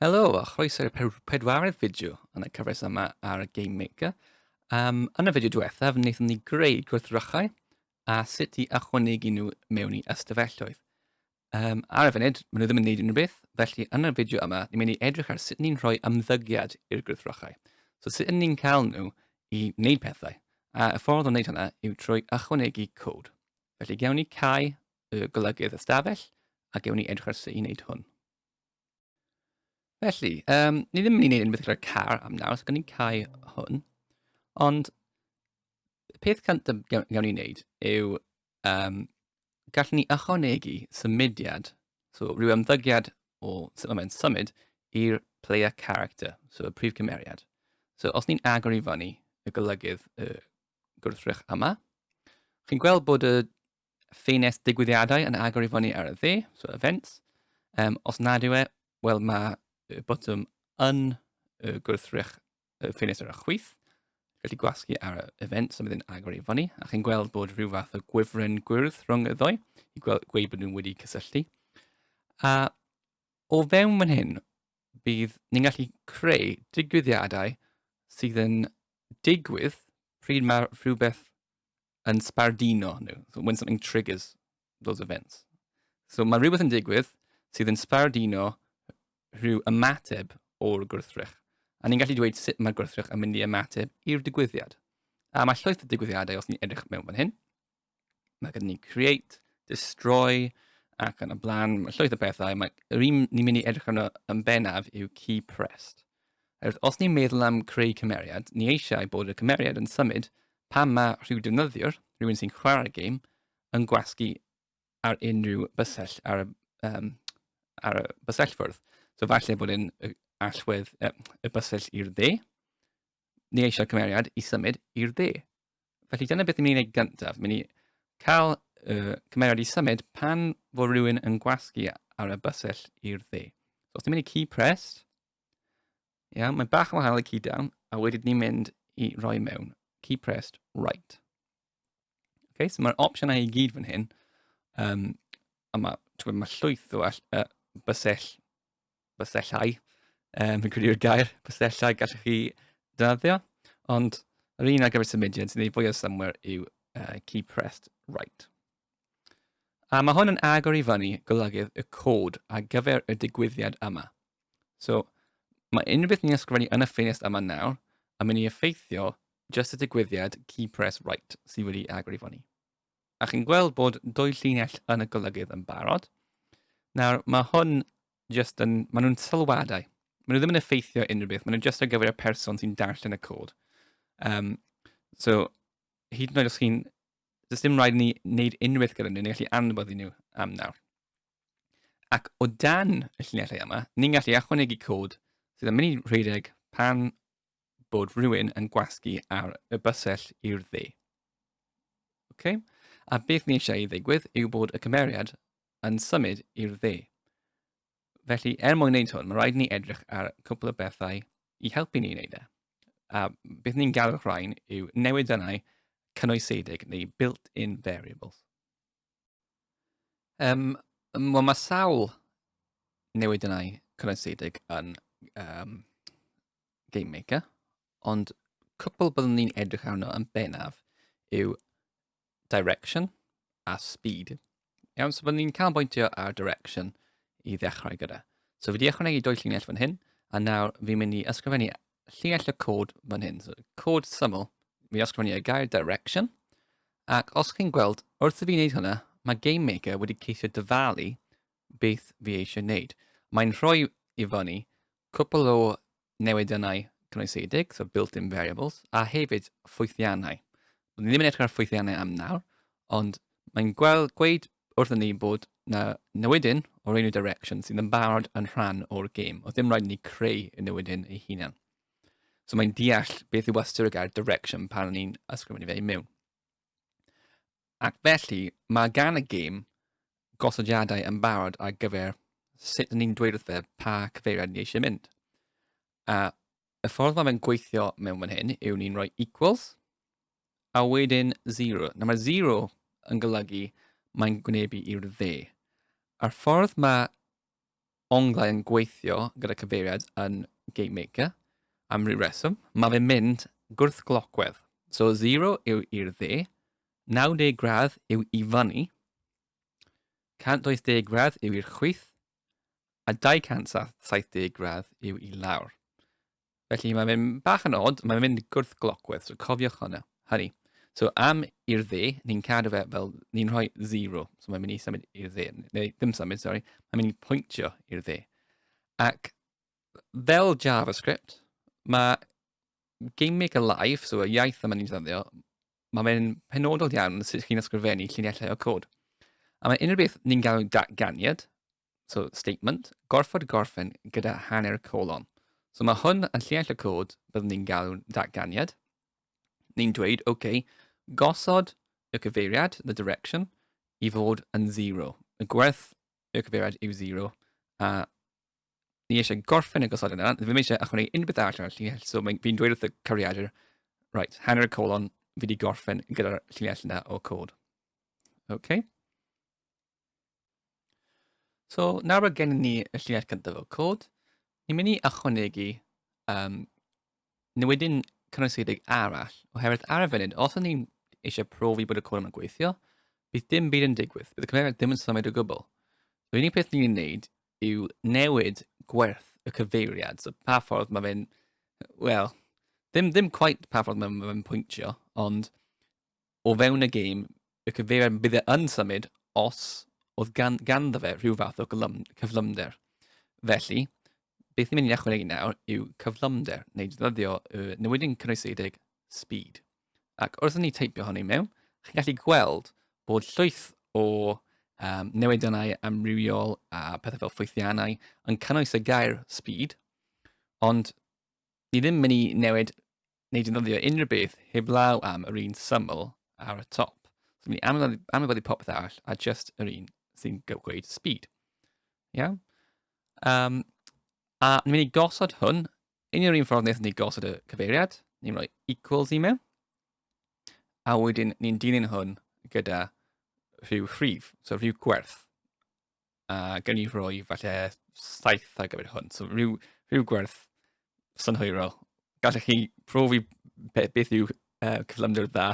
Helo a chroeso i'r pedwaredd fideo yn y cyfres yma ar Game Maker. Um, yn y fideo diwethaf, wnaethon ni greu gwrthrychau a sut i ychwanegu nhw mewn i ystafelloedd. Um, ar y funud, maen nhw ddim yn gwneud unrhyw beth, felly yn y fideo yma, ni'n mynd i edrych ar sut ni'n rhoi ymddygiad i'r gwrthrychau. So sut yn ni'n cael nhw i wneud pethau, a y ffordd o wneud hynna yw trwy ychwanegu cod. Felly gawn ni cau y golygydd ystafell a gewn ni edrych ar sut i wneud hwn. Felly, um, ni ddim yn mynd i wneud unbeth gyda'r car am nawr, so gan ni'n cael hwn. Ond y peth cyntaf gawn ni wneud yw um, gallwn ni ychwanegu symudiad, so rhyw ymddygiad o sut mae'n symud i'r player character, so y prif cymeriad. So os ni'n agor i fyny y golygydd y gwrthrych yma, chi'n gweld bod y ffenest digwyddiadau yn agor i fyny ar y dde, so events. Um, os nad yw e, wel mae y botwm yn y gwrthrych y ffenest ar y chwyth. Gallu gwasgu ar y events a bydd yn agor i fyny, a chi'n gweld bod rhyw fath o gwifren gwyrdd rhwng y ddoe i gweud bod nhw'n wedi cysylltu. A o fewn fan hyn, bydd ni'n gallu creu digwyddiadau sydd yn digwydd pryd mae rhywbeth yn sbardino nhw. So when something triggers those events. So mae rhywbeth yn digwydd sydd yn sbardino rhyw ymateb o'r gwrthrych. A ni'n gallu dweud sut mae'r gwrthrych yn mynd i ymateb i'r digwyddiad. A mae llwyth o digwyddiadau os ni'n edrych mewn fan hyn. Mae gyda ni create, destroy, ac yn y blaen, mae llwyth o bethau. Mae'r un ni'n mynd i edrych arno yn bennaf yw key pressed. Oherwydd os ni'n meddwl am creu cymeriad, ni eisiau bod y cymeriad yn symud pan mae rhyw defnyddiwr, rhywun sy'n chwarae'r gêm, yn gwasgu ar unrhyw bysell ar y, um, ar y bysellfwrdd. So falle bod yn allwedd uh, y bysell i'r dde, ni eisiau cymeriad i symud i'r dde. Felly dyna beth ni'n mynd i wneud gyntaf. Mynd i cael uh, cymeriad i symud pan fod rhywun yn gwasgu ar y bysell i'r dde. So os ni'n mynd i key pressed, Ia, yeah, mae'n bach yn wahanol i key down, a wedyn ni'n mynd i roi mewn key pressed right. Okay, so mae'r opsiynau i gyd fan hyn, um, a mae ma llwyth o uh, bysell, bysellau, um, fi'n credu'r gair, bysellau gallwch chi dynaddio, ond yr un ar gyfer symudiad sy'n ei fwy o somewhere yw uh, key pressed right. A mae hwn yn agor i fyny golygydd y cod ar gyfer y digwyddiad yma. So, mae unrhyw beth ni'n ysgrifennu yn y ffenest yma nawr yn mynd i effeithio just y digwyddiad key press right sydd wedi agor i fyny. A chi'n gweld bod dwy llinell yn y golygydd yn barod. Nawr, mae hwn just yn, maen nhw'n sylwadau. Maen nhw ddim yn effeithio unrhyw beth, maen nhw'n just ar gyfer y person sy'n darllen y cod. Um, so, hyd yn oed os chi'n, does dim rhaid ni wneud unrhyw beth gyda nhw, ni'n gallu anwybyddu nhw am nawr. Ac o dan y llinellau yma, ni'n gallu achwanegu cod sydd yn mynd i rhedeg pan bod rhywun yn gwasgu ar y bysell i'r dde. Okay? A beth ni eisiau i ddigwydd yw bod y cymeriad yn symud i'r dde. Felly, er mwyn wneud hwn, mae rhaid ni edrych ar cwpl o bethau i helpu ni wneud e. A beth ni'n galw'r rhain yw newid dynnau cynwysedig neu built-in variables. Um, Wel, mae sawl newid yna i cynnwysedig yn um, Game Maker, ond cwpl byddwn ni'n edrych arno yn benaf yw direction a speed. Iawn, so byddwn ni'n canolbwyntio ar direction i ddechrau gyda. So fi wedi ychwanegu dwy llinell fan hyn, a nawr fi'n mynd i ysgrifennu llinell y cod fan hyn. So, cod syml, mi ysgrifennu y gair direction, ac os chi'n gweld, wrth i fi wneud hwnna, mae Game Maker wedi ceisio dyfalu beth fi eisiau wneud. Mae'n rhoi i fyny cwpl o newidiannau cynnwysedig, so built-in variables, a hefyd ffwythiannau. Byddwn ddim yn edrych ar ffwythiannau am nawr, ond mae'n gweld, gweud wrth ni bod na newydyn o'r enw Direction sydd yn barod yn rhan o'r gêm. Oedd ddim rhaid ni creu y newydyn ei hunan. So mae'n deall beth yw ystyr y gair Direction pan ni'n ysgrifennu fe i mewn. Ac felly, mae gan y gêm gosodiadau yn barod ar gyfer sut ni'n dweud wrth fe pa cyfeiriad ni eisiau mynd. A y ffordd mae fe'n gweithio mewn fan hyn yw ni'n rhoi equals a wedyn 0. Nawr mae 0 yn golygu mae'n gwynebu i'r dde. A'r ffordd mae onglau yn gweithio gyda cyfeiriad yn Game Maker, am ryw reswm, mae fe'n mynd gwrthglocwedd. So 0 yw i'r dde, 90 gradd yw i fyny, 120 gradd yw i'r chwith, a 270 gradd yw i lawr. Felly mae'n mynd bach yn od, mae'n mynd gwrthglocwedd, so cofiwch hwnna, hynny. So am i'r dde, ni'n cadw fe fel, ni'n rhoi 0, so mae'n mynd i symud i'r dde, neu ddim symud, sorry, mae'n mynd i pwyntio i'r dde. Ac fel JavaScript, mae GameMaker Live, so y iaith yma ni'n ddefnyddio, Mae fe'n penodol iawn sut chi'n ysgrifennu lluniau o cod. A mae unrhyw beth ni'n galw datganiad, so statement, gorfod gorffen gyda hanner colon. So mae hwn yn lluniau o cod, byddwn ni'n galw datganiad. Ni'n dweud, OK, gosod y cyfeiriad, the direction, i fod yn zero. Y gwerth y cyfeiriad yw zero, a ni eisiau gorffen y gosodiad yna, ddim eisiau ychwanegu unrhyw beth arall ar y llinell, so fi'n dweud wrth y cariadur, right, hanner y colon, fi wedi gorffen gyda'r llinell yna o cod. Okay. So, nawr bod gennym ni y llinell cyntaf o cod, ni'n mynd i ychwanegu um, Nid wedyn cynnwysedig arall, oherwydd ar y funud, os ydyn ni eisiau profi bod y cwrw yn gweithio, bydd dim byd yn digwydd, bydd y cyfeiriad ddim yn symud o gwbl. So, yr unig peth ni'n ei wneud yw newid gwerth y cyfeiriad, so pa ffordd mae fe'n, wel, ddim, ddim quite pa ffordd mae fe'n pwyntio, ond o fewn y gêm, y cyfeiriad bydd e yn symud os oedd gan, ganddo fe rhyw fath o gyflym, cyflymder. Felly, beth ni'n mynd i ychwanegu nawr yw cyflymder, neu ddyddio y newidyn cynnwysedig speed. Ac wrth ni teipio hynny mewn, chi'n gallu gweld bod llwyth o um, newidionau amrywiol a pethau fel ffwythiannau yn cynnwys y gair speed, ond ni ddim mynd i newid neu defnyddio unrhyw beth heblaw am yr un syml ar y top. So mynd i anwybyddu popeth arall a just yr un sy'n gweud speed. Iawn? Um, a ni'n mynd i gosod hwn yn yr un ffordd nes ni gosod y cyfeiriad. Ni'n rhoi equals i mewn. A wedyn ni'n dilyn hwn gyda rhyw rhif, so rhyw gwerth. a gen i roi falle saith ar gyfer hwn. So rhyw, rhyw gwerth synhwyrol. Gallech chi profi be, beth yw uh, cyflymder dda.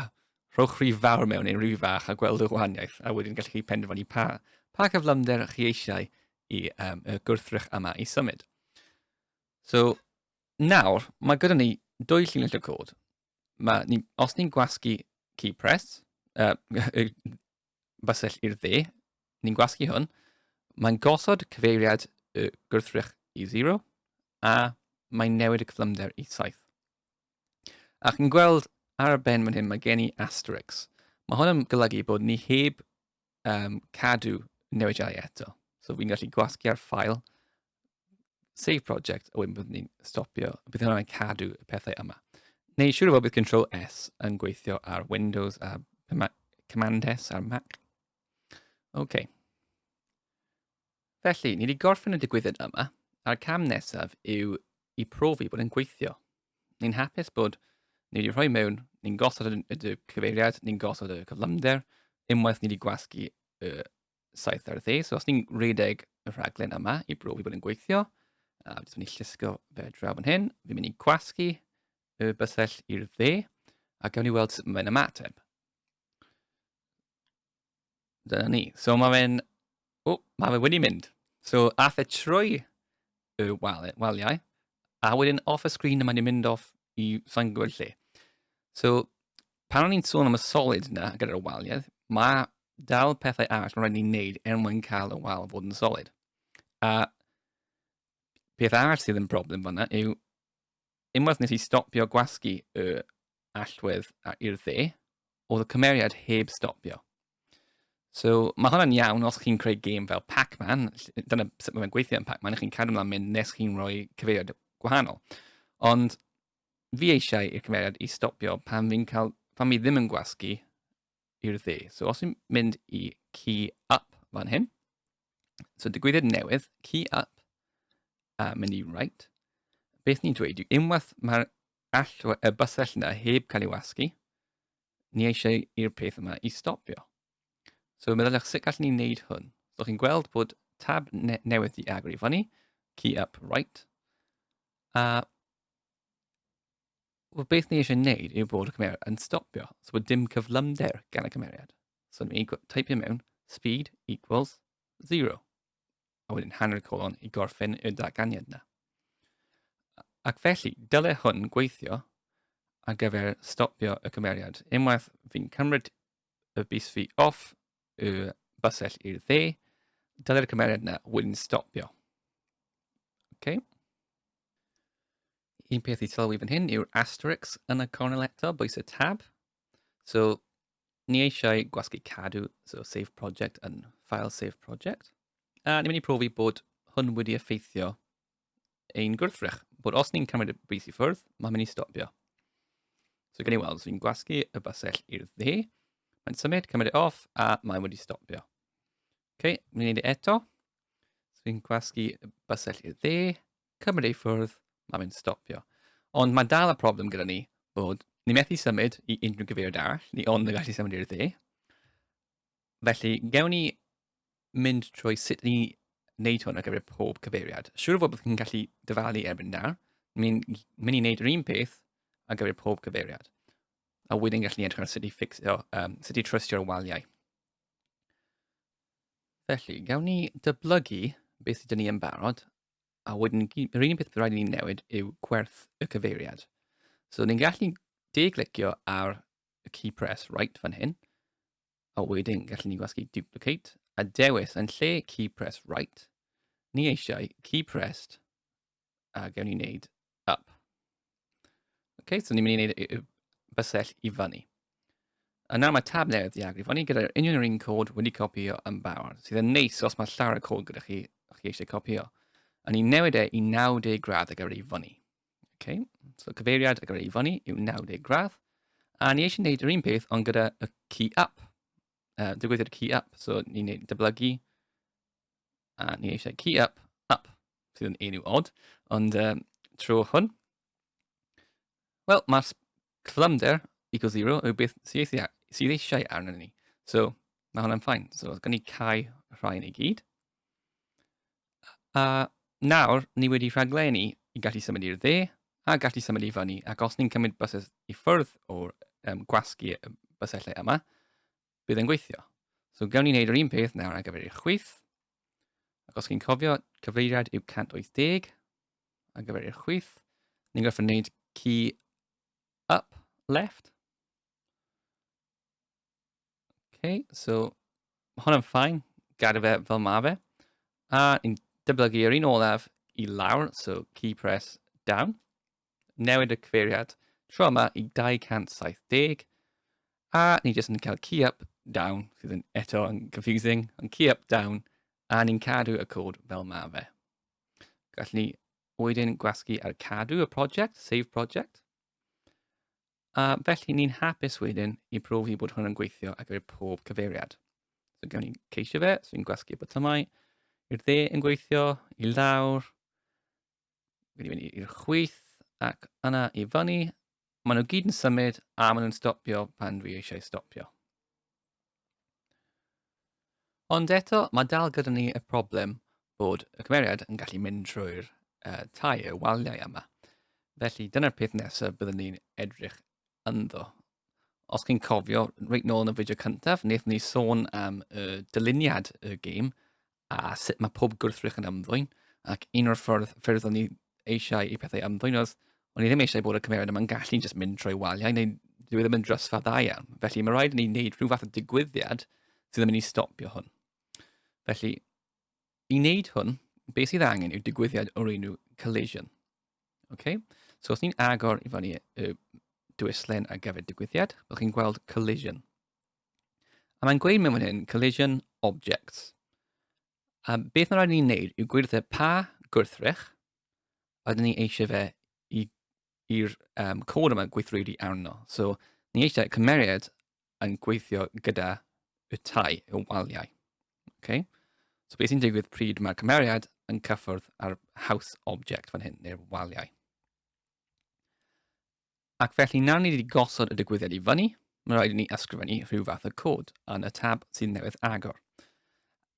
Rhowch rhyw fawr mewn neu rhyw fach a gweld y gwahaniaeth, a wedyn gallech chi penderfynu pa, pa cyflymder chi eisiau i um, y gwrthrych yma i symud. So, nawr, mae gyda ni dwy llinell y cod. Mae, ni, os ni'n gwasgu key press, uh, basell i'r dde, ni'n gwasgu hwn, mae'n gosod cyfeiriad y gwrthrych i 0, a mae'n newid y cyflymder i 7. Ac yn gweld ar y ben fan hyn, mae gen i asterix. Mae hwn yn golygu bod ni heb um, cadw newidiadau eto. So fi'n gallu gwasgu ar ffael save project, a wedyn byddwn ni'n stopio, bydd hwnna'n cadw y pethau yma. Neu siŵr o fod bydd Control S yn gweithio ar Windows a Command S ar Mac. OK. Felly, ni wedi gorffen y digwyddiad yma, a'r cam nesaf yw i profi bod yn gweithio. Ni'n hapus bod ni wedi rhoi mewn, ni'n gosod y cyfeiriad, ni'n gosod y cyflymder, unwaith ni wedi gwasgu y 70. So os ni'n rhedeg y rhaglen yma i brofi bod yn gweithio, a jyst mynd i llusgo fe draw fan hyn, fi'n mynd i gwasgu y bysell i'r dde, a gawn ni weld sut mae'n ymateb. Dyna ni. So mae fe'n... O, mae fe wedi mynd. So, ath e trwy y wal, waliau, a wedyn off y sgrin mae wedi mynd off i sa'n gwybod lle. So, pan o'n i'n sôn am y solid yna gyda'r waliau, mae dal pethau arall mae'n rhaid ni'n neud er mwyn cael y wal fod yn solid. A peth arall sydd yn broblem fanna yw unwaith nes i stopio gwasgu y allwedd i'r dde, oedd y cymeriad heb stopio. So, mae hwnna'n iawn os chi'n creu gêm fel Pac-Man, dyna sut mae'n gweithio yn Pac-Man, chi'n cadw ymlaen mynd nes chi'n rhoi cyfeiriad gwahanol. Ond fi eisiau i'r cymeriad i stopio pan fi'n cael, pan fi ddim yn gwasgu i'r dde. So os i'n mynd i key up fan hyn, so digwyddiad newydd, key up, a mynd i right, beth ni'n dweud yw unwaith mae'r allwa, y bysell yna heb cael ei wasgu, ni eisiau i'r peth yma i stopio. So meddyliwch sut gallwn ni wneud hwn. So chi'n gweld bod tab ne newydd di agor i fyny, key up right, a Wel, beth ni eisiau gwneud yw bod y cymeriad yn stopio, so bod dim cyflymder gan y cymeriad. So ni'n mynd i typio mewn speed equals 0. A wedyn hanner colon i gorffen y datganiad yna. Ac felly, dylai hwn gweithio ar gyfer stopio y cymeriad. Unwaith fi'n cymryd y bus fi off y bysell i'r dde, dylai'r cymeriad yna wedyn stopio. Okay. un peth i sylwi fan hyn yw'r asterix yn y cornel eto, bwys y tab. So, ni eisiau gwasgu cadw, so save project yn file save project. A ni'n mynd i profi bod hwn wedi effeithio ein gwrthrych, bod os ni'n cymryd y bris i ffwrdd, mae'n mynd i stopio. So gen i weld, so ni'n gwasgu y basell i'r dde, mae'n symud, cymryd e off, a mae wedi stopio. OK, ni'n gwneud e eto. So ni'n gwasgu y basell i'r dde, cymryd ei ffwrdd, mae fe'n stopio. Ond mae dal y problem gyda ni bod ni methu symud i unrhyw gyfeiriad arall, ni ond y gallu symud i'r dde. Felly, gewn ni mynd trwy sut ni wneud hwn ar gyfer pob cyfeiriad. Siwr o fod bod chi'n gallu dyfalu erbyn nawr, ni'n mynd i wneud yr un peth ar gyfer pob cyfeiriad. A wedyn gallu edrych ar sut i ffixio, um, sut i trwystio'r waliau. Felly, gawn ni dyblygu beth sydd ni yn barod A wedyn, yr unig beth bydd rhaid i ni newid yw gwerth y cyfeiriad. So, ni'n gallu de-glicio ar y key press right fan hyn, a wedyn gallen ni gwasgu duplicate, a dewis yn lle key press right, ni eisiau key pressed, a gawn ni wneud up. Okay, so ni'n mynd i wneud bysell i fyny. Yna mae tab newydd di agor i fyny gyda'r union yr un cod wedi copio yn barod, sydd yn neis os mae llawer y cod gyda chi, chi eisiau copio. A ni'n newid e i 90 gradd ag ar ei fyny. Okay? So cyfeiriad ag ar ei fyny yw 90 gradd. A ni eisiau gwneud yr un peth ond gyda y key up. Uh, digwyddiad key up. So ni'n dyblygu a ni eisiau key up, up, sydd yn enw odd, ond um, tro hwn. Wel, mae'r cyflymder equals 0 yw beth sydd eisiau arno ni. So, mae hwnna'n ffain. So, gan ni cael rhai yn ei gyd. A nawr, ni wedi rhaglenni i gallu symud i'r dde a gallu symud i fyny. Ac os ni'n cymryd bysys i ffwrdd o'r um, gwasgu bysellau yma, bydd yn gweithio. So gawn ni wneud yr un peth nawr ar gyfer eich chwith. Ac os chi'n cofio, cyfeiriad yw 180 ar gyfer eich chwith. Ni'n gorfod wneud key up left. Okay, so mae hwnna'n ffain, gadael fe fel mae fe. A ni'n dyblygu yr un olaf i lawr, so key press down. newid y cyfeiriad tro yma i 270, a ni jyst yn cael key up, down, sydd yn eto yn confusing, ond key up, down, a ni'n cadw y cod fel ma fe. Gallwn ni wedyn gwasgu ar cadw y prosiect, save project. A felly ni'n hapus wedyn i profi bod hwn yn gweithio ar gyfer pob cyfeiriad. So gawn ni ceisio fe, so ni'n gwasgu botymau i'r dde yn gweithio, i lawr, wedi mynd i'r chwith ac yna i fyny. Maen nhw gyd yn symud a maen nhw'n stopio pan dwi eisiau stopio. Ond eto, mae dal gyda ni y problem bod y cymeriad yn gallu mynd trwy'r uh, tai y waliau yma. Felly dyna'r peth nesaf byddwn ni'n edrych ynddo. Os chi'n cofio, reit nôl yn y fideo cyntaf, wnaethon ni sôn am y dyluniad y gêm a sut mae pob gwrthrych yn ymddwyn, ac un o'r ffordd ffyrdd o'n i eisiau i pethau ymddwyn oedd, o'n i ddim eisiau bod y cymeriad yma'n gallu just mynd trwy waliau, neu dwi e ddim yn drysfa dda iawn. Felly mae rhaid i ni wneud rhyw fath o digwyddiad sydd yn mynd i stopio hwn. Felly, i wneud hwn, beth sydd angen yw digwyddiad o'r enw collision. Okay? So os ni'n agor i fyny y dwyslen ar gyfer digwyddiad, byddwch chi'n gweld collision. A mae'n gweud mewn fan hyn, collision objects. A beth mae'n rhaid ni'n neud yw gwirth pa gwrthrych ydyn ni eisiau fe i'r um, cod yma gweithredu arno. So, ni eisiau cymeriad yn gweithio gyda y tai, y waliau. Okay? So, beth sy'n digwydd pryd mae cymeriad yn cyffwrdd ar house object fan hyn, neu'r waliau. Ac felly nawr ni wedi gosod y digwyddiad i fyny, mae'n rhaid i ni ysgrifennu rhyw fath o cod yn y tab sydd newydd agor.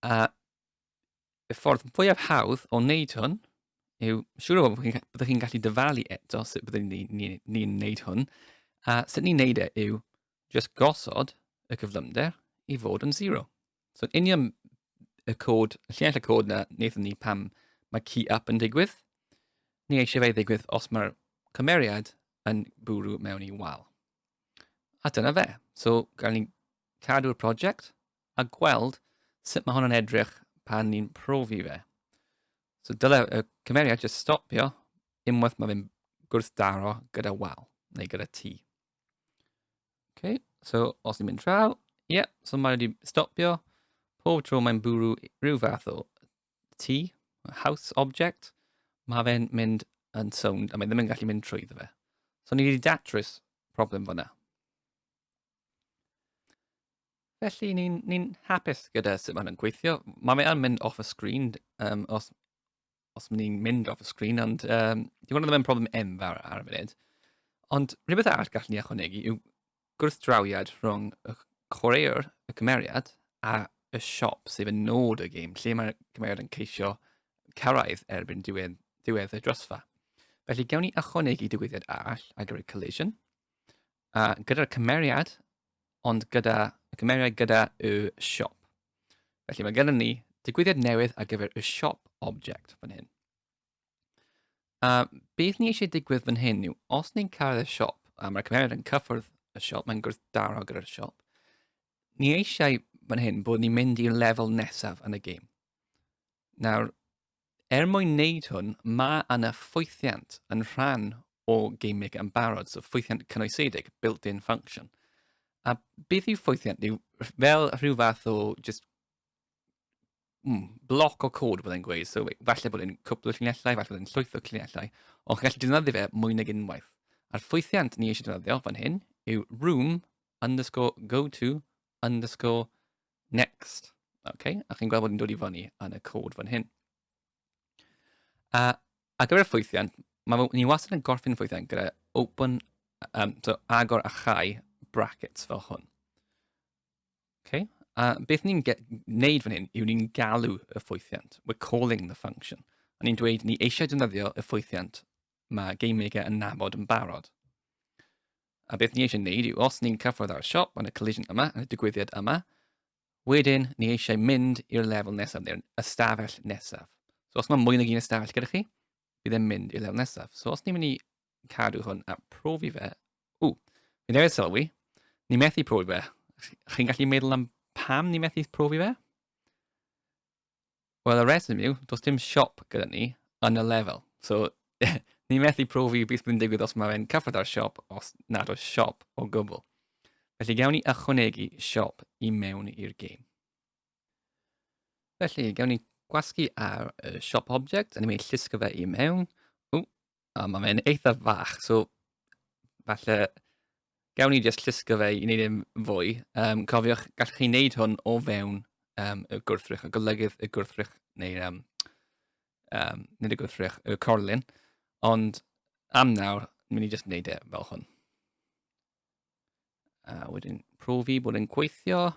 A y ffordd fwyaf hawdd o wneud hwn yw, siŵr o fod byddwch chi'n gallu dyfalu eto sut byddwn ni'n ni, ni, ni wneud hwn, a sut ni'n wneud e yw just gosod y cyflymder i fod yn 0. So yn union y cod, y llinell y cod na wnaethon ni pam mae key up yn digwydd. Ni eisiau fe ddigwydd os mae'r cymeriad yn bwrw mewn i wal. A dyna fe. So, gael ni cadw'r prosiect a gweld sut mae hwn yn edrych pan ni'n profi fe. So, dyle y cymeriad jyst stopio unwaith mae fe'n gwrthdaro gyda wal neu gyda tŷ. Okay, so os ni'n mynd draw, ie, yeah, so mae wedi stopio. Pob tro mae'n bwrw rhyw fath o tŷ, house object, mae fe'n mynd yn sownd a mae ddim yn gallu mynd trwy fe. So ni wedi datrys problem fyna. Felly ni'n ni hapus gyda sut mae'n gweithio. Mae fe'n mynd off y sgrin um, os os mynd i'n mynd off y sgrin, ond um, di hwnna ddim yn problem enfawr ar y funud. Ond rhywbeth arall gallwn ni ychwanegu yw gwrthdrawiad rhwng y chwaraewr, y cymeriad, a y siop sef yn nod y gêm, lle mae'r cymeriad yn ceisio cyrraedd erbyn diwedd, diwedd y drosfa. Felly, gawn ni ychwanegu digwyddiad arall ar gyfer collision, A gyda'r cymeriad, ond gyda, y cymeriad gyda y siop. Felly mae gennym ni digwyddiad newydd ar gyfer y siop object fan hyn. A beth ni eisiau digwydd fan hyn yw, os ni'n cael y siop, a mae'r cymeriad yn cyffwrdd y siop, mae'n gwrthdaro gyda'r siop, ni eisiau fan hyn bod ni'n mynd i'r lefel nesaf yn y gêm. Nawr, er mwyn wneud hwn, mae yna ffwythiant yn rhan o gaming yn barod, so ffwythiant cynoesedig, built-in function. A beth yw ffwythiant? Yw fel rhyw fath o just mm, bloc o cod bod e'n gweud, so falle bod e'n cwpl o llinellau, falle bod e'n llwyth o llinellau, ond chi'n gallu defnyddio fe mwy nag unwaith. A'r ffwythiant ni eisiau defnyddio fan hyn yw room underscore go to underscore Next. Okay, a chi'n gweld bod ni'n dod i fyny yn y cod fan hyn. A, a gyda'r ffwythiant, mae ni wastad yn gorffen ffwythiant gyda open, um, so agor a chau brackets fel hwn. Okay. A beth ni'n gwneud fan hyn yw ni'n galw y ffwythiant. We're calling the function. A ni'n dweud ni eisiau defnyddio y ffwythiant mae GameMaker yn nabod yn barod. A beth ni eisiau wneud yw, os ni'n cyffwrdd â'r siop yn y collision yma, yn y digwyddiad yma, wedyn ni eisiau mynd i'r lefel nesaf, neu'r ystafell nesaf. So os mae mwy nag un ystafell gyda chi, bydd e'n mynd i'r lefel nesaf. So os ni'n mynd i cadw hwn a profi fe, ww, fi newydd sylwi, ni methu profi fe. Chi'n gallu meddwl am pam ni methu profi fe? Wel, y reswm yw, does dim siop gyda ni yn y lefel. So, ni methu profi beth bydd yn digwydd os mae fe'n cyfred â'r siop os nad oes siop o gwbl. Felly gawn ni ychwanegu siop i mewn i'r game. Felly, gawn ni gwasgu ar y siop object, a ni'n mynd i llusgo fe i mewn. O, O, mae fe'n eitha fach, so falle gawn ni jyst llusgo fe i wneud yn e fwy. Um, cofiwch, gallwch chi wneud hwn o fewn um, y gwrthrych, y golygydd y gwrthrych, neu um, um, nid y gwrthrych, y corlun. Ond am nawr, mynd i jyst wneud e fel hwn. A wedyn profi bod yn gweithio.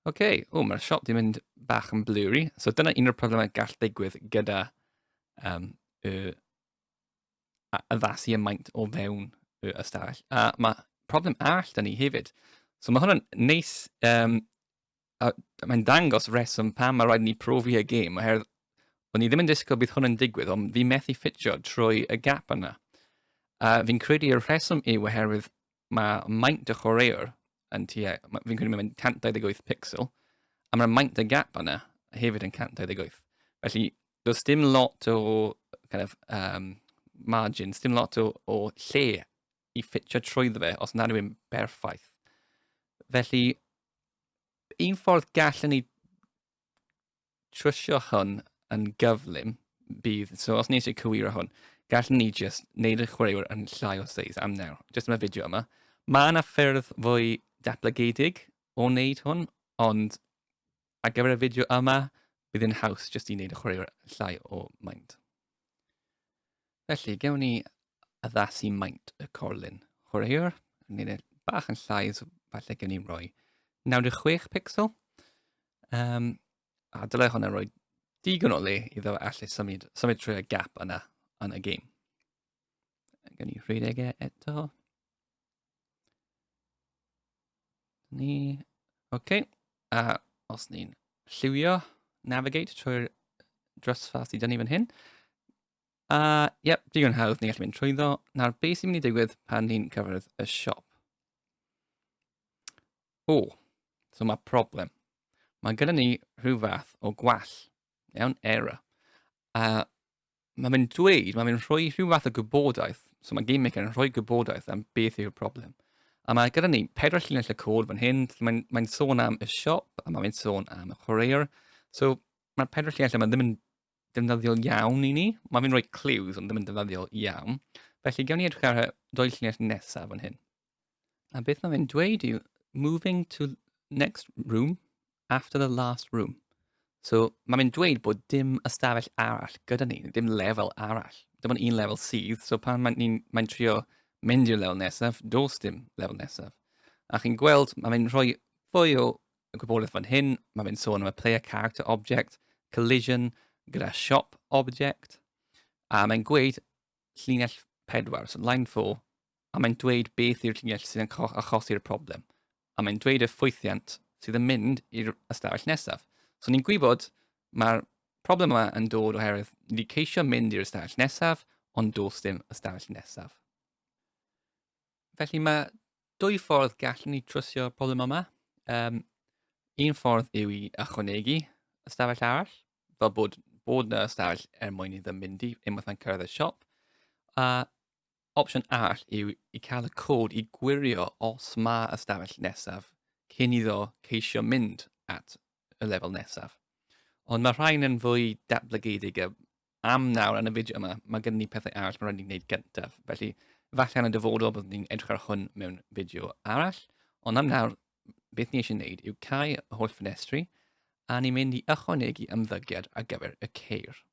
Oce, okay. o mae'r siop di mynd bach yn blurry. So dyna un o'r problemau gall digwydd gyda um, y, a, addasu y maint o fewn y ystafell. A mae problem all da ni hefyd. So mae hwnna'n neis, um, mae'n dangos reswm pam mae rhaid ni profi y gêm, oherwydd o'n i ddim yn disgwyl bydd hwn yn digwydd, ond fi methu ffitio trwy y gap yna. A fi'n credu y rheswm yw oherwydd mae maint y chwaraewr yn tua, fi'n credu mae'n 128 pixel, a mae'r maint y gap yna hefyd yn 128. Felly, does dim lot o kind of, um, margin, dim lot o, o lle i ffitio trwy fe os nad yw'n berffaith. Felly, un ffordd gallen ni trwsio hwn yn gyflym, bydd, so os ni eisiau cywiro hwn, gallwn ni just wneud y chwaraewyr yn llai o seis am nawr, just yma fideo yma. Mae yna ffyrdd fwy daplygedig o wneud hwn, ond ar gyfer y fideo yma, bydd yn haws jyst i wneud y chwaraewyr llai o maint. Felly, gewn ni addasu maint y corlun chwaraewr, yn gwneud e bach yn llai, so falle gewn ni roi 96 pixel, Um, a dylai hwnna roi digon o le iddo allu symud, symud trwy y gap yna yn y game. Gan ni rhedeg e eto. Ni... Oce. Okay. A os ni'n lliwio, navigate trwy'r drysfa sydd dynnu fan hyn. A, uh, yep, digon hawdd, ni'n gallu mynd trwy ddo. Nawr, beth sy'n mynd i digwydd pan ni'n cyfredd y siop? O, so mae problem. Mae gyda ni rhyw fath o gwall, iawn, error. A mae fe'n dweud, mae fe'n rhoi rhyw fath o gwybodaeth, so mae Game Maker yn rhoi gwybodaeth am beth yw'r problem. A mae gyda ni pedwar llinell y cod fan hyn, mae'n mae sôn am y siop, a mae'n sôn am y chwaraewr. So mae'r pedwar llinell yma ddim yn defnyddiol iawn i ni. Mae fe'n rhoi clues, ond ddim yn defnyddiol iawn. Felly, gewn ni edrych ar y dwy llinell nesaf fan hyn. A beth mae fe'n dweud yw, moving to next room after the last room. So, mae fe'n dweud bod dim ystafell arall gyda ni, dim lefel arall. Dim ond un lefel sydd, so pan mae'n mae, mae trio mynd i'r lefel nesaf, dos dim lefel nesaf. A chi'n gweld, mae fe'n rhoi fwy o gwybodaeth fan hyn, mae fe'n sôn am y player character object, collision gyda shop object, a mae'n gweud llinell 4, so line 4, a mae'n dweud beth yw'r llinell sydd yn achosi'r problem. A mae'n dweud y ffwythiant sydd yn mynd i'r ystafell nesaf. So ni'n gwybod mae'r problem yma yn dod oherwydd ni wedi ceisio mynd i'r ystafell nesaf, ond dos dim ystafell nesaf. Felly mae dwy ffordd gallwn ni trwsio problem yma. Um, un ffordd yw i ychwanegu ystafell arall, fel bod, bod yna ystafell er mwyn iddo mynd i unwaith mae'n cyrraedd y siop. A opsiwn arall yw i cael y cod i gwirio os mae ystafell nesaf cyn iddo ceisio mynd at y lefel nesaf. Ond mae rhain yn fwy datblygedig a am nawr yn y fideo yma, mae gen ni pethau arall mae'n rhaid ni'n gwneud gyntaf. Felly, falle yn y dyfodol byddwn ni'n edrych ar hwn mewn fideo arall, ond am nawr, beth ni eisiau gwneud yw cael y holl ffenestri, a ni'n mynd i ychwanegu ymddygiad ar gyfer y ceir.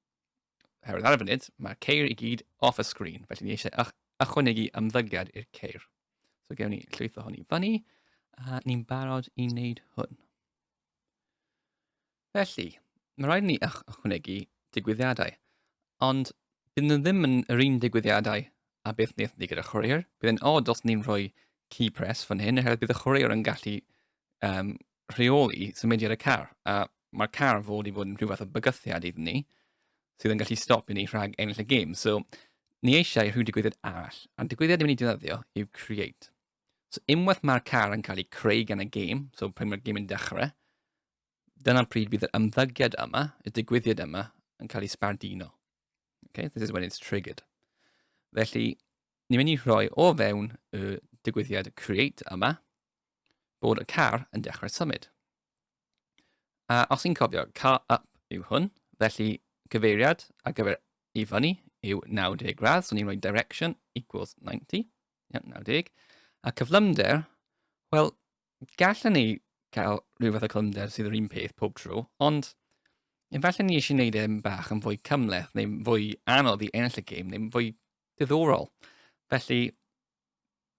Herwydd ar y funud, mae'r ceir i gyd off y sgrin, felly ni eisiau ychwanegu ymddygiad i'r ceir. So gewn ni llwytho hwn i fyny, a ni'n barod i wneud hwn. Felly, mae'n rhaid i ni ychwanegu digwyddiadau, ond bydd nhw ddim yn yr un digwyddiadau a beth wnaethon ni gyda chwaraewr. Bydd yn od os ni'n rhoi key press fan hyn, oherwydd bydd y chwaraewr yn gallu um, rheoli symudiad y car, a mae'r car fod i fod yn rhywbeth o bygythiad iddyn ni, sydd yn gallu stop i ni rhag ennill y gêm. So, ni eisiau rhyw digwyddiad arall, a'r digwyddiad ni'n mynd i ddefnyddio yw create. So, unwaith mae'r car yn cael ei creu gan y gêm, so pryd mae'r gêm yn dechrau, dyna pryd bydd yr ymddygiad yma, y digwyddiad yma, yn cael ei sbarduno. Okay? This is when it's triggered. Felly, ni'n mynd i rhoi o fewn y digwyddiad create yma bod y car yn dechrau symud. A os ni'n cofio, car up yw hwn, felly cyfeiriad ar gyfer i fyny yw 90 gradd, so ni'n rhoi direction equals 90, yeah, 90, a cyflymder, wel, gallwn ni cael rhyw fath o clynder sydd yr un peth pob tro, ond efallai ni eisiau gwneud e'n bach yn fwy cymleth neu'n fwy anodd i ennill y gêm neu'n fwy diddorol. Felly,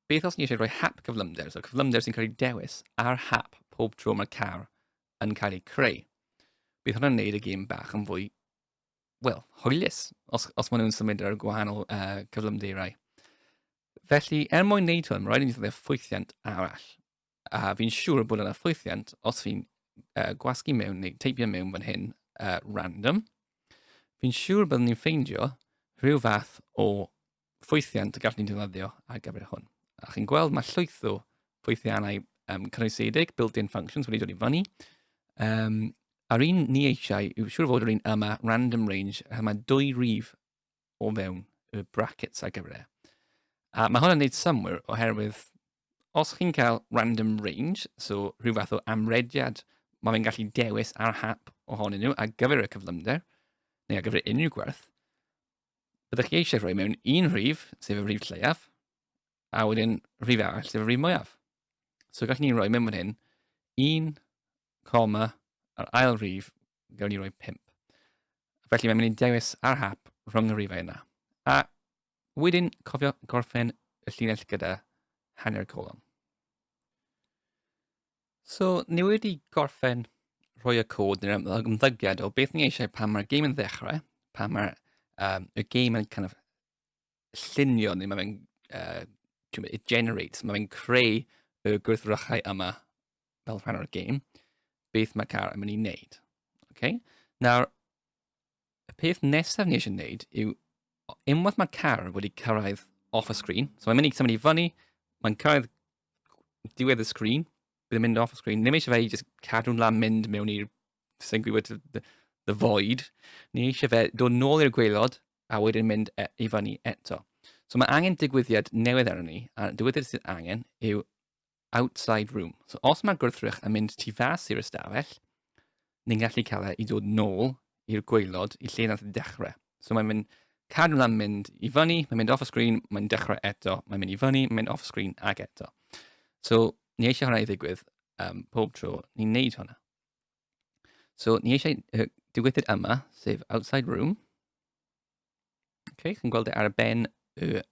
beth os ni eisiau rhoi hap cyflymder, so cyflymder sy'n cael ei dewis ar hap pob tro mae'r car yn cael ei creu. Bydd hwnna'n gwneud y gêm bach yn fwy, wel, hwylus, os, os maen nhw'n symud ar y gwahanol uh, cyflymderau. Felly, er mwyn wneud hwn, mae rhaid i ni ddefnyddio ffwythiant arall. A fi'n siŵr bod yna ffwythiant, os fi'n uh, gwasgu mewn neu teipio mewn fan hyn, uh, random, fi'n siŵr byddwn ni'n ffeindio rhyw fath o ffwythiant y gallwn ni'n defnyddio ar gyfer hwn. A chi'n gweld mae llwyth o ffwythiannau um, cynnwysedig, built-in functions wedi dod i fyny. Um, a'r un ni eisiau yw siŵr fod yr un yma, random range, a mae dwy rif o fewn y brackets ar gyfer e. A mae hwn yn neud symwyr oherwydd os chi'n cael random range, so rhyw fath o amrediad, mae fe'n gallu dewis ar hap ohonyn nhw ar gyfer y cyflymder, neu ar gyfer unrhyw gwerth, byddwch chi eisiau rhoi mewn un rhif, sef y rhif lleiaf, a wedyn rhif arall, sef y rhif mwyaf. So gallwn ni roi mewn fan hyn, 1, coma, yr ail rhif gawn ni roi 5. Felly mae'n mynd i dewis ar hap rhwng y rhifau yna. A wedyn cofio gorffen y llinell gyda hanner colon. So, ni wedi gorffen rhoi y cod neu'r ymddygiad o beth ni eisiau pan mae'r game yn ddechrau, pan mae'r um, y game yn kind of llunio, neu mae fe'n uh, it generates, mae fe'n creu y gwerthfawrogiadau yma fel rhan o'r game, beth mae car yn mynd i wneud. Okay? Nawr, y peth nesaf ni eisiau gwneud yw, unwaith mae car wedi cyrraedd off y sgrin, so mae'n mynd i symud i fyny, mae'n cyrraedd diwedd y sgrin, bydd yn mynd off y sgrin, ddim eisiau fe i just cadw'n lan mynd mewn i'r, sy'n gwybod, the, the void, ni eisiau fe dod nôl i'r gweilod, a wedyn mynd e, i fyny eto. So mae angen digwyddiad newydd arno ni, a digwyddiad sydd angen yw outside room. So os mae'r gwrthrych yn mynd tu fas i'r ystafell, ni'n gallu cael e i dod nôl i'r gweilod i lle nath dechrau. So mae'n mynd cadw lan mynd i fyny, mae'n mynd off y sgrin, mae'n dechrau eto, mae'n mynd i fyny, mae'n mynd off y sgrin ag eto. So ni eisiau hwnna i ddigwydd um, pob tro ni'n neud hwnna. So, ni eisiau uh, diwythyr yma, sef outside room. Okay, chi'n gweld e ar y ben y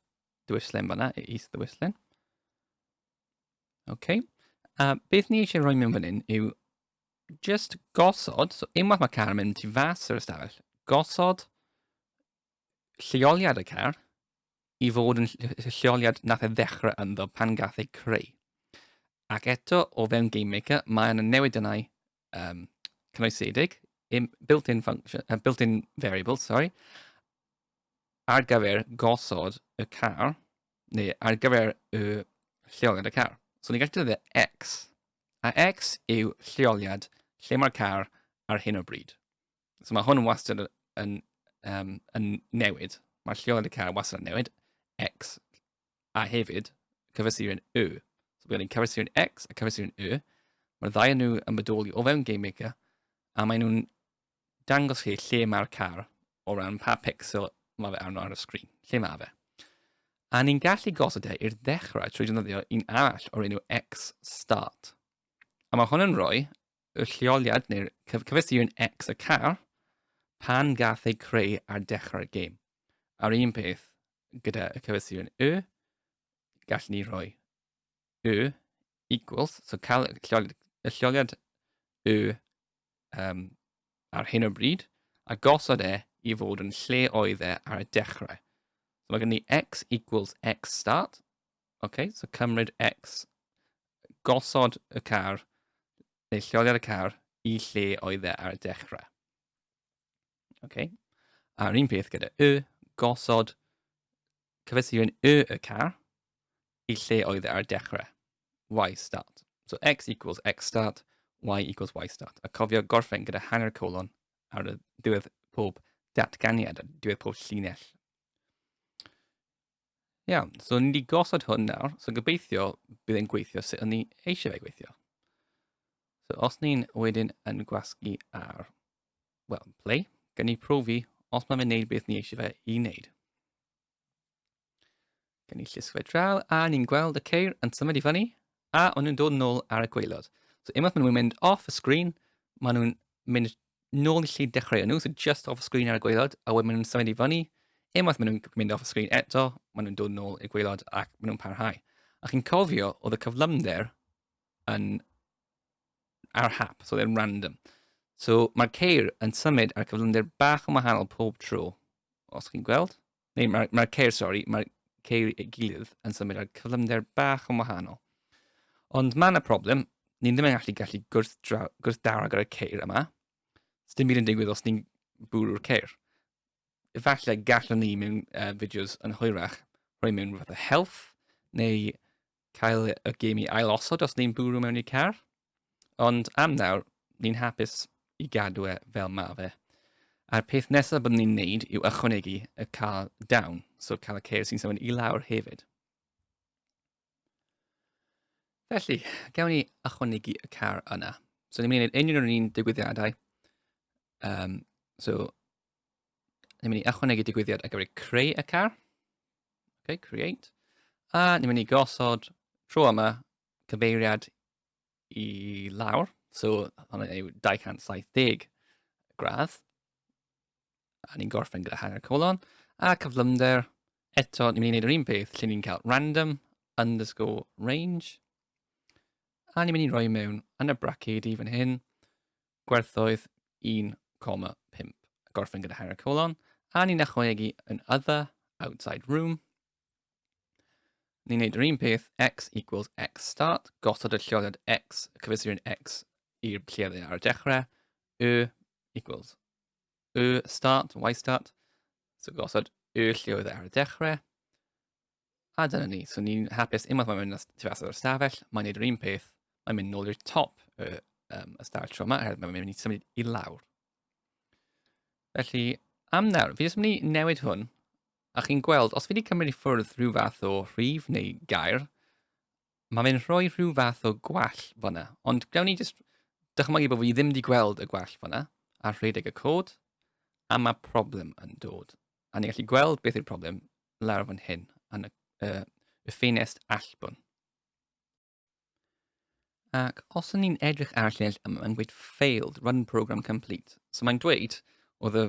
dywyslen fanna, y is dywyslen. Okay. A beth ni eisiau rhoi mewn fan hyn yw just gosod, so unwaith mae car yn mynd tu fas yr ystafell, gosod lleoliad y car i fod yn lleoliad nath e ddechrau ynddo pan gath ei creu. Ac eto, o fewn Game Maker, mae yna newidynau um, cynoesedig, built-in function, uh, built-in variables, sorry, ar gyfer gosod y car, neu ar gyfer y lleoliad y car. So ni'n gallu defnyddio X, a X yw lleoliad lle mae'r car ar hyn o bryd. So mae hwn wastad yn, um, yn newid. Mae'r lleol yn y car wastad yn newid. X a hefyd cyfesurin Y. So byddwn ni'n cyfesurin X a cyfesurin Y. Mae'r ddau yn nhw yn bodoli o fewn Game Maker a maen nhw'n dangos chi lle mae'r car o ran pa pixel mae fe arno ar y sgrin, lle mae fe. A ni'n gallu gosod e i'r ddechrau trwy defnyddio un arall o'r enw X Start. A mae hwn yn rhoi y lleoliad, neu'r cyfres un X y car, pan gath ei creu ar dechrau'r gêm. A'r un peth gyda y cyfres un Y, gall ni roi Y equals, so cael y lleoliad, y lleoliad Y um, ar hyn o bryd, a gosod e i fod yn lle oedd e ar y dechrau. So mae gen ni x equals x start, Ok, so cymryd X, gosod y car, neu lleoliad y car, i lle oedd e ar y dechrau. Ok, a'r un peth gyda Y, gosod cyfesuron Y y car i lle oedd e ar y dechrau. Y start. So X equals X start, Y equals Y start. A cofio gorffen gyda hanner colon ar y diwedd pob datganiad, a diwedd pob llinell. Iawn, so ni wedi gosod hwn nawr, so gobeithio bydd e'n gweithio sut o'n ni eisiau fe gweithio. So os ni'n wedyn yn gwasgu ar, well, play, gan ni profi os mae'n wneud beth ni eisiau fe i wneud. Gan ni llusgo fe draw, a ni'n gweld y ceir yn symud i fyny, A o'n nhw'n dod nôl ar y gweilod. So unwaith maen nhw'n mynd off y sgrin, maen nhw'n mynd nôl i lle dechrau nhw, so just off y sgrin ar y gweilod, a wedyn maen nhw'n symud i fyny. Unwaith maen nhw'n mynd off y sgrin eto, maen nhw'n dod nôl i'r gweilod ac maen nhw'n parhau. A chi'n cofio, oedd y cyflymder yn ar hap, so oedd e'n random. So mae'r ceir yn symud ar cyflymder bach yn wahanol pob tro, os chi'n gweld. neu mae'r mae ceir, sori, mae'r ceir ei gilydd yn symud ar cyflymder bach yn wahanol. Ond mae yna problem, ni ddim yn gallu gallu gwrthdaro gyda'r ceir yma. Os dim byd yn digwydd os ni'n bwrw'r ceir. Efallai gallwn ni mewn uh, fideos yn hwyrach rhoi mewn rhywbeth o health neu cael y gêm i ailosod os ni'n bwrw mewn i'r car. Ond am nawr, ni'n hapus i gadw e fel ma fe. A'r peth nesaf byddwn ni'n neud yw ychwanegu y car down, so cael y ceir sy'n symud i lawr hefyd. Felly, gawn ni ychwanegu y car yna. So ni'n mynd i wneud unrhyw un digwyddiadau. Um, so, ni'n mynd i ychwanegu digwyddiad ar gyfer creu y car. Okay, create. A ni'n mynd i gosod tro yma cyfeiriad i lawr. So, hwnna yw 270 gradd. A ni'n gorffen gyda hanner colon. A cyflymder, eto, ni'n mynd i wneud yr un peth lle ni'n cael random underscore range. A ni'n mynd i roi mewn yn y bracedi fan hyn, gwerthoedd 1,5 gorffen gyda hanner colon, a ni'n ychwanegu yn other, outside room. Ni'n neud yr un peth, x equals x start, gosod y lleoliad x, cyfesurin x i'r lle dde ar y dechrau, y equals y start, y start, so gosod y lleoedd ar y dechrau, A dyna ni. So ni'n hapus unwaith mae'n mynd tu fas o'r stafell, mae'n neud yr un peth, mae'n mynd nôl i'r top y, um, y stafell tro yma, oherwydd mae'n mynd i symud i lawr. Felly, am nawr, fi jyst yn mynd i newid hwn, a chi'n gweld, os fi wedi cymryd i ffwrdd rhyw fath o rhif neu gair, mae'n mynd rhoi rhyw fath o gwell fyna. Ond gawn ni jyst dychmygu bod fi ddim wedi gweld y gwell fyna, a rhedeg y cod, a mae problem yn dod. A ni'n gallu gweld beth yw'r problem lawr fan hyn, yn y, uh, y ffenest allbwn. Ac os y'n ni'n edrych ar y llinell yma, mae'n gweud failed, run program complete. So mae'n dweud, oedd y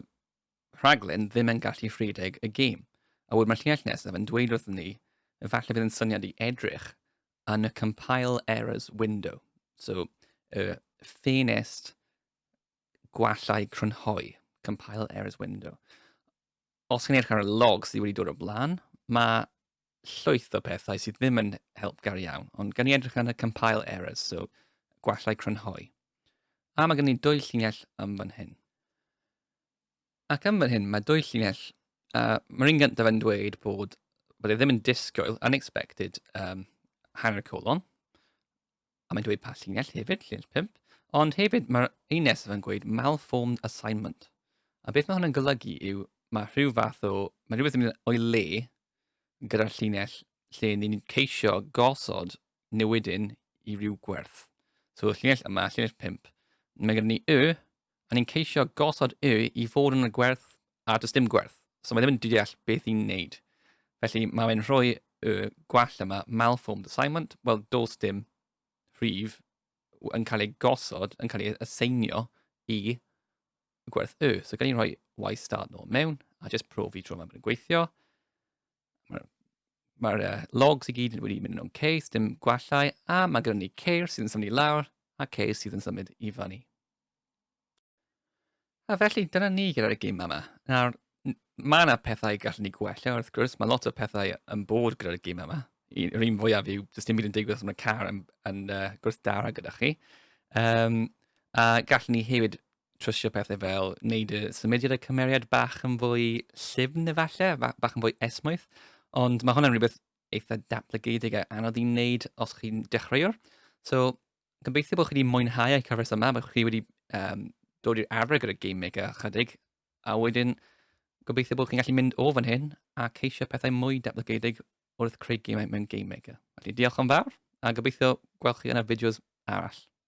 rhaglen ddim yn gallu rhedeg y gêm. A wedyn mae'r llinell nesaf yn dweud wrthyn ni, efallai fydd yn syniad i edrych yn y compile errors window. So, y ffenest gwallau crynhoi, compile errors window. Os chi'n eich ar y log sydd wedi dod o blaen, mae llwyth o pethau sydd ddim yn helpgar iawn, ond gan i edrych ar y compile errors, so gwallau crynhoi. A mae gen i dwy llinell am fan hyn. Ac am fan hyn, mae dwy llinell, uh, mae'r un gyntaf yn dweud bod, bod e ddim yn disgwyl, unexpected, um, hanner colon, A mae'n dweud pa llinell hefyd, llinell 5. Ond hefyd, mae'r un nesaf yn gweud malformed assignment. A beth mae hwn yn golygu yw, mae rhyw fath o, mae rhywbeth yn mynd o'i le gyda'r llinell lle ni'n ceisio gosod newidyn i ryw gwerth. So, y llinell yma, llinell 5, mae gen ni y, A ni'n ceisio gosod y i fod yn y gwerth a does dim gwerth. So mae ddim yn deall beth i'n neud. Felly mae e'n rhoi y gwall yma, malformed assignment, wel dos dim rhif yn cael ei gosod, yn cael ei aseinio i gwerth y. So gan ni'n rhoi y start nôl mewn a jyst profi tro yma bod yn gweithio. mae'r Mae'r uh, logs i gyd wedi mynd yn o'n case, dim gwallau, a mae gyda ni ceir sydd yn symud i lawr a ceir sydd yn symud i fyny. A felly, dyna ni gyda'r gym yma. Nawr, mae yna pethau gallwn ni gwella, wrth gwrs, mae lot o pethau yn bod gyda'r gym yma. Yr un fwyaf yw, does dim byd yn digwydd os mae car yn, yn uh, gwrthdara gyda chi. Um, a gallwn ni hefyd trwsio pethau fel wneud y symudiad y cymeriad bach yn fwy llyfn efallai, bach yn fwy esmwyth. Ond mae hwnna'n rhywbeth eitha datblygedig a anodd i wneud os chi'n dechreuwr. So, gobeithio bod chi wedi mwynhau y cyfres yma, bod chi wedi um, dod i'r arfer gyda Game Maker chydig, a wedyn gobeithio bod chi'n gallu mynd o fan hyn a ceisio pethau mwy datblygedig wrth creu gemau mewn Game Maker. Felly, diolch yn fawr, a gobeithio gweld chi yn y fideos arall.